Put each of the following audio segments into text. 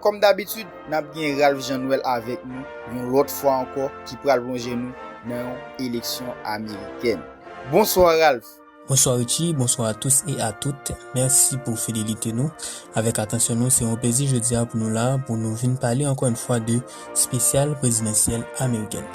Kòm dabitid, n ap gen Ralph Jean Noël avèk nou yon lòt fwa ankò ki pral plonje nou nan yon eleksyon amerikèn. Bonswa Ralph! Bonswa Richie, bonswa a tous e a tout, mèsi pou fidelite nou avèk atansyon nou, se yon plezi jodi a pou nou la pou nou vin pale ankò yon fwa de spesyal prezidansyèl amerikèn.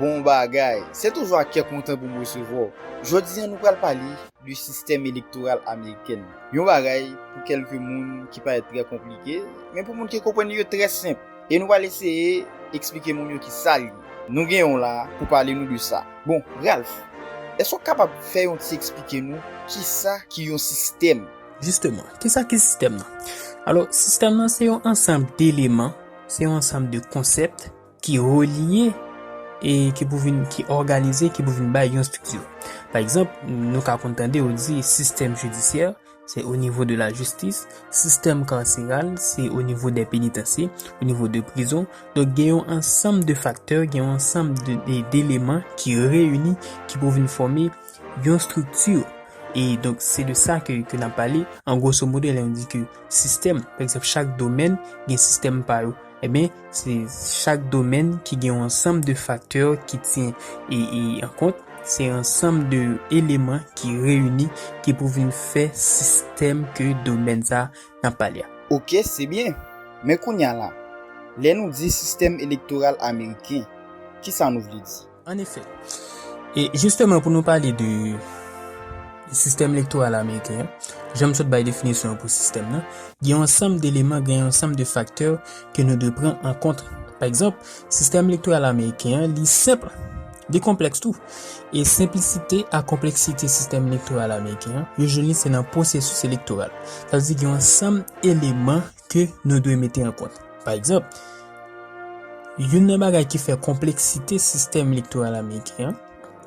Bon bagay! Se toujou ak kè kontan pou m resevwa w. Jodi a nou pral pale. de sistèm elektoral amerikèn nan. Yon bagay pou kèlke moun ki parèt trè konplike, men pou moun ki konprann li yo trè senp. E nou pral eseye eksplike moun yo ki sa li ye. Nou gen yon la pou pale nou de sa. Bon, Ralph, èske w kapab fè yon ti eksplike nou ki sa ki yon sistèm? Jisteman, ki sa ki sistèm nan? Alò, sistèm nan se yon ansanb deleman, se yon ansanb de konsèp, ki relye e ki pou vin ki òganize ki pou vin bay yon strikti. Pa egzanp, nou ka konn tande ou di sistèm jidisyè, se o nivo de la jistis, sistèm kanseral, se o nivo de penitansye, o nivo de prizon. Donk gen yon ansanm de faktè, gen yon ansanm de deleman ki reyini ki pou vin fòme yon strikti. E donk se de sa ke ke nan pale, an gwoso modo lè yon di ke sistèm, pa egzanp chak domèn gen sistèm pa yo. Eben, se chak domèn ki gen yon ansanm de faktè ki tyen an kont, se ansanm de eleman ki reyini ki pou vin fè sistèm ke domèn sa n ap pale a. Ok, se byen. Men kounya la, lè nou di sistèm elektoral ameriken, kisa nou vle di? An efè, e jisteman pou nou pale de sistèm elektoral ameriken an, jan m sot bay definisyon an pou sistèm nan, gen yon ansanm deleman, gen yon ansanm de faktè ke nou dwe pran an kont. Pa egzanp, sistèm elektoral ameriken an li senp, li konplèks tou. E senplisite ak konpleksite sistèm elektoral ameriken an, yo jwenn li se nan pwosesis elektoral. Sa vle di gen yon ansanm eleman ke nou dwe mete an kont. Pa egzanp, youn nan bagay ki fè konpleksite sistèm elektoral ameriken an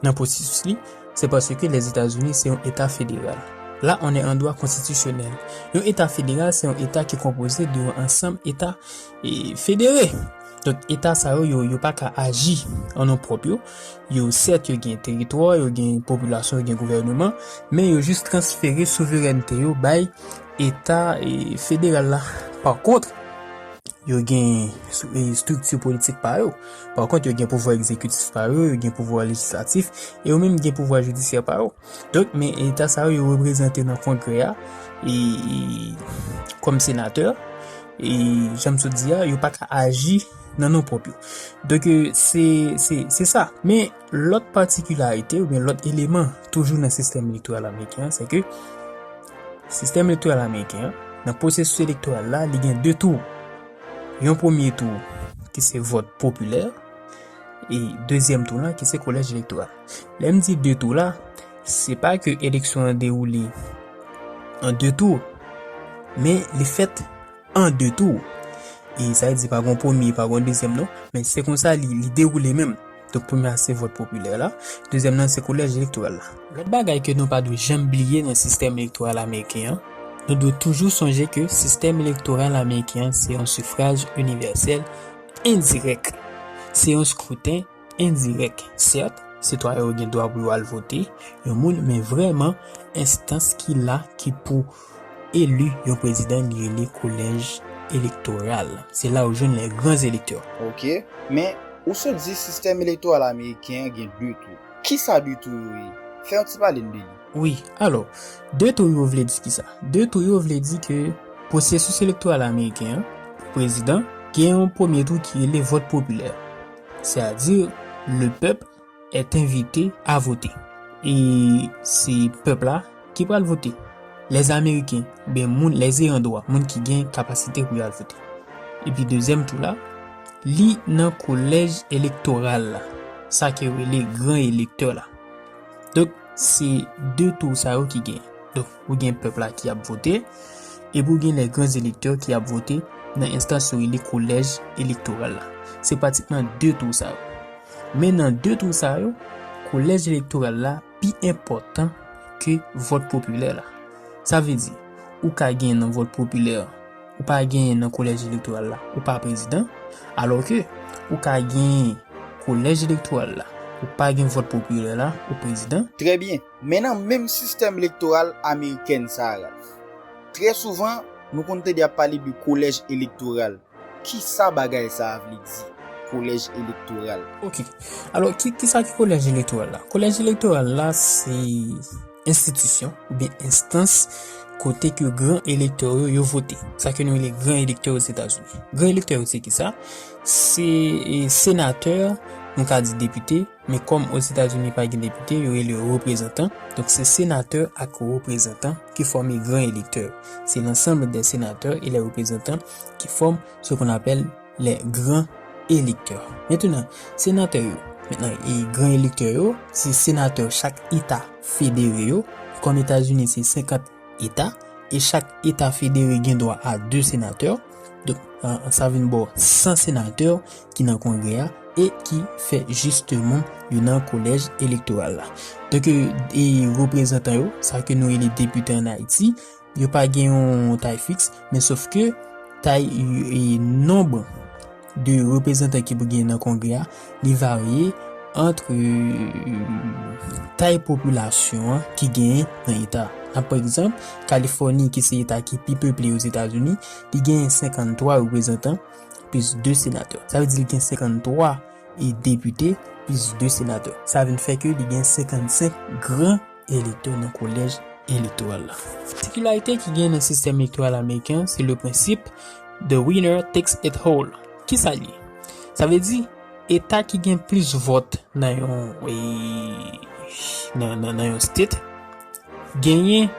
nan pwosesis li, se paske Lèzetazini se yon eta federal. Là on est en droit constitutionnel. Yon eta federal se yon eta ki konpoze de yon ansanm eta e federe. Donk eta sa yo, yo, yo pa ka aji an non pwòp yo. Yo sèt yo gen teritwa, yo gen popilasyon, yo gen gouvèneman, men yo jis transfere souverènte yo bay Eta federal la, pa kont, yo gen estrikti politik pa yo. Pa kont, yo gen pouvwa egzekitif pa yo, yo gen pouvwa lejislatif, e yo menm gen pouvwa jidisyè pa yo. Donk, men eta sa yo, yo reprezante nan kongrè a, e, kòm senatè, e, jan m sot di a, yo pa ka aji nan non pwòp yo. Donk, se, se, se sa. Men. Lòt patikilarite oubyen lòt eleman toujou nan sistèm elektoral ameriken an, se ke sistèm elektoral ameriken an, nan pwosesis elektoral la, li gen 2 tou. Yon premye tou ki se vòt popilè, e dezyèm tou la ki se kolèj elektoral. Lè m di 2 tou la, se pa ke eleksyon an dewoule an 2 tou, men li fèt an 2 tou. E sa vle di pa gen yon premye, pa gen yon dezyèm non, men se konsa li dewoule menm. Donk premye a se vòt popilè la, dezyèm nan se kolèj elektoral la. Lòt bagay ke nou pa dwe janm bliye nan sistèm elektoral ameriken an, nou dwe toujou sonje ke sistèm elektoral ameriken an se yon sifraj inivèsèl endirèk, se yon skruten endirèk. Sèt, sitwayen yo gen dwa pou yo al vote yon moun, men vrèman enstans ki la ki pou. Eli yon prezidan li rele kolèj elektoral. Se la ou jwenn les grands électeurs. Ok, men ou sot di sistèm elektoral ameriken an gen 2 tou. Kisa 2 tou yo ye? Fè yon ti pale n de li. Wi, alò, 2 tou yo vle di kisa? 2 tou yo vle di ke pwosesis elektoral ameriken an, pou prezidan, gen yon premye tou ki rele vòt popilè. Se a di, le pèp. est invite a vote e se pèp la ki pral vote les ameriken oubyen moun les eyan dwa moun ki gen kapasite pou yal vote epi dezyèm tou la li nan kolèj elektoral la sa ke rele gran elektè la donk se de tou sa yo ki gen donk Ou gen pèp la ki ap vote, epi ou gen les grands électeurs ki ap vote nan enstans yo rele kolèj elektoral la. Se pratikman 2 tou sa yo. Men nan 2 tou sa yo, kolèj elektoral la pi enpòtan ke vòt popilè la. Sa vle di, ou ka genyen nan vòt popilè, ou pa genyen nan kolèj elektoral la, ou pa prezidan, alò ke ou ka genyen kolèj elektoral la, ou pa gen vòt popilè la, ou prezidan. Trè byen. Men nan menm sistèm elektoral amerikèn sa a, Ralph, trè souvan, nou konn tande y ap pale de kolèj elektoral. Ki sa bagay sa a vle di, kolèj elektoral? Ok. Alò, ki sa ki kolèj elektoral la? Kolèj elektoral la se enstitisyon oubyen enstans kote ke gran elektè yo, yo vote. Sa ke nou rele gran elektè Ozetazini. Gran elektè yo se ki sa? Se senatè, nou ka di depite. Men kòm Ozetazini pa gen depite, yo rele yo reprezantan, donk se senatè ak reprezantan ki fòme gran elektè. Se lansanble dè senatè e lè reprezantan ki fòm se kon apèl lè gran elektè. Mentenan, senatè yo, mentenan e gran elektè yo, se senatè chak eta federe yo, e kòm Etazini se 50 eta, e chak eta federe gen dwa a 2 senatè, donk sa vin ba w 100 senatè ki nan kongrè a e ki fè jisteman yo nan kolèj elektoral la. Donk e reprezantan yo, sa ke nou rele depite an Ayiti, yo pa gen yon tay fiks, men sof ke tay e nonb de reprezantan ki pou gen nan kongrè a, li varye antre tay popilasyon an ki gen nan eta. Nan pa egzanp, Kalifòni ki se eta ki pi peple yo Zetazini, li gen 53 reprezantan, plis 2 senatè. Sa vle di li gen 53 e depite plis 2 senatè. Sa vin fè ke li gen 55 gran elektè nan kolèj elektoral la. Patikilarite ki gen nan sistèm elektoral ameriken se le prensip The winner takes it all. Ki sa l ye? Sa vle di eta ki gen plis vòt nan yon nan yon state genyen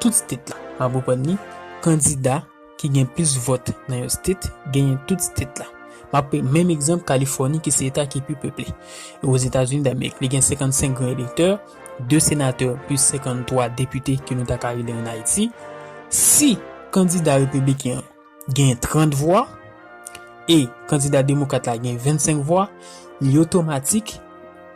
tout state la. Map reprann li, kandida. ki gen plis vòt nan yon state genyen tout state la. M ap pran menm egzanp Kalifòni ki se eta ki pi peple e Ozetazini Damerik. Li gen 55 gran elektè, 2 senatè plis 53 depite ke nou ta ka rele an Ayiti. Si kandida repibliken an genyen 30 vwa e kandida demokrat la genyen 25 vwa, li otomatik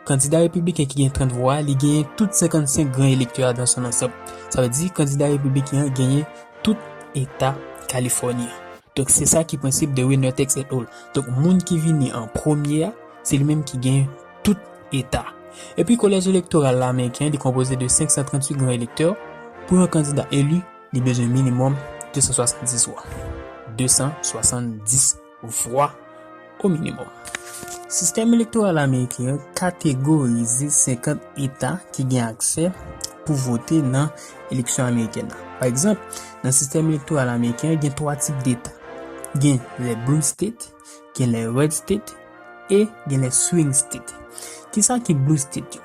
kandida repibliken ki genyen 30 vwa a li genyen tout 55 gran elektè a dan son ansanm. Sa vle di kandida repibliken an genyen tout eta Californie an. Donk se sa ki prensip de Winertex et al. Donk moun ki vini an premye a, se li menm ki gen tout eta. Epi kolèj elektoral la ameriken an li konpoze de 538 gran elektè, pou yon kandida eli li bezwen minimòm 270 vwa. 270. vwa o minimòm. Sistèm elektoral ameriken an kategorize 50 eta ki gen aksè pou vote nan eleksyon amerikèn nan. Pa egzanp, nan sistèm elektoral ameriken an gen 3 tip deta. Gen lè blue state, gen lè red state e gen lè swing state. Kisa ki blue state yo?